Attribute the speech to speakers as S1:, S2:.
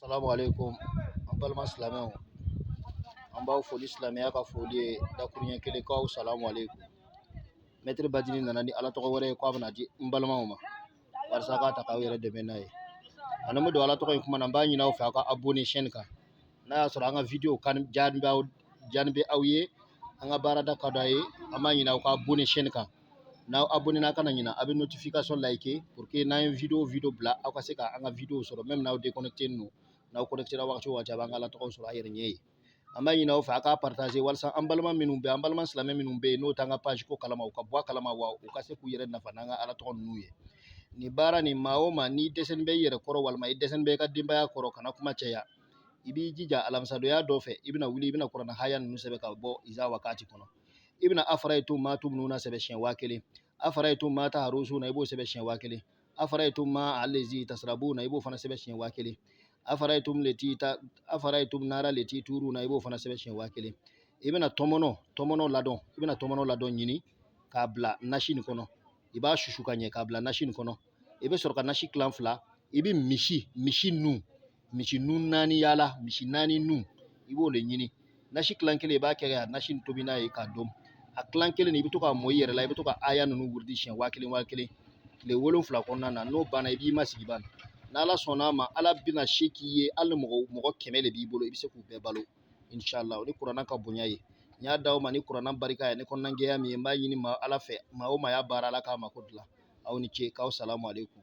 S1: salamu aleykum an balima silamɛw an b'aw fo ni silamɛya ka foli ye dakuruɲɛ kelen k'aw salamu aleykum mɛtiri badini nana ni ala tɔgɔ wɛrɛ ye k'a bɛna di n balimaw ma walasa k'a ta k'aw yɛrɛ dɛmɛ n'a ye yanni n bɛ don ala tɔgɔ in kuma na n b'a ɲini aw fɛ aw ka abonné chaîne kan n'a y'a sɔrɔ an ka video diya bɛ aw ye an ka baarada ka d'a ye an b'a ɲini aw ka abonné chaîne kan n'aw abonné na kana ɲina a bɛ notification like pour que n'an ye video o video bila aw ka se ka an ka video sɔrɔ même n'aw déconnecté nen don n'aw connecté ra wagati o wagati a b'an ka alatɔgɔw sɔrɔ a yɛrɛ ɲɛ ye an b'a ɲini aw fɛ a k'a partager walasa an balima minnu bɛ an balima silamɛ minnu bɛ yen n'o t'an ka page ko kalama u ka bɔ a kalama wa u ka se k'u yɛrɛ nafa n'an ka alatɔgɔ ninnu ye nin baara nin maa o maa n'i dɛsɛlen bɛ i yɛrɛ kɔrɔ walima i dɛsɛlen bɛ i ka denbaya kɔrɔ kana kuma caya i b'i jija alamisadonya dɔ fɛ i bɛna wuli i bɛna kurana haya ninnu sɛbɛn ka bɔ iza wakati kɔnɔ i bɛna afarayitum maa tumnuna sɛbɛn siɲɛ waa kelen afarayitum maa taharusuna i b'o sɛbɛn siɲɛ waa kelen afarayitum maa alezi tasarabuna i b'o fana sɛbɛn siɲɛ waa kelen afarayitumu leti ta afarayitumu nara leti tuuruna i b'o fana sɛbɛn siɲɛ waa kelen i bɛna tɔmɔnɔ tɔmɔnɔ ladɔn i bɛna tɔmɔnɔ ladɔn ɲini k'a bila nasi nin kɔnɔ i b'a susu ka ɲɛ k'a bila nasi nin kɔnɔ i bɛ sɔrɔ ka nasi kilan fila i bɛ misi misi nun misi nun naani yaala misi naani nun i b'o le ɲini nasi kilan kelen i b'a kɛ ka nasi nin tobi n'a ye k'a dun a kilan kelen i bɛ to k'a mɔ i yɛrɛ la i bɛ to ka aya ninnu wurudi siɲɛ waa kelen waa kelen tile wolonfila kɔnɔna na n'o banna i b'i masigi ban n'ala sɔnna a ma ala bɛna se k'i ye hali mɔgɔ mɔgɔ kɛmɛ de b'i bolo i bɛ se k'u bɛɛ balo inshallah o ni kurana ka bonya ye n y'a d'aw ma ni kurana barika ye ni kɔnɔna jɛya min ye n b'a ɲini maa ala fɛ maa o maa y'a baara ala k'a mako dilan aw ni ce k'aw salamu aleykum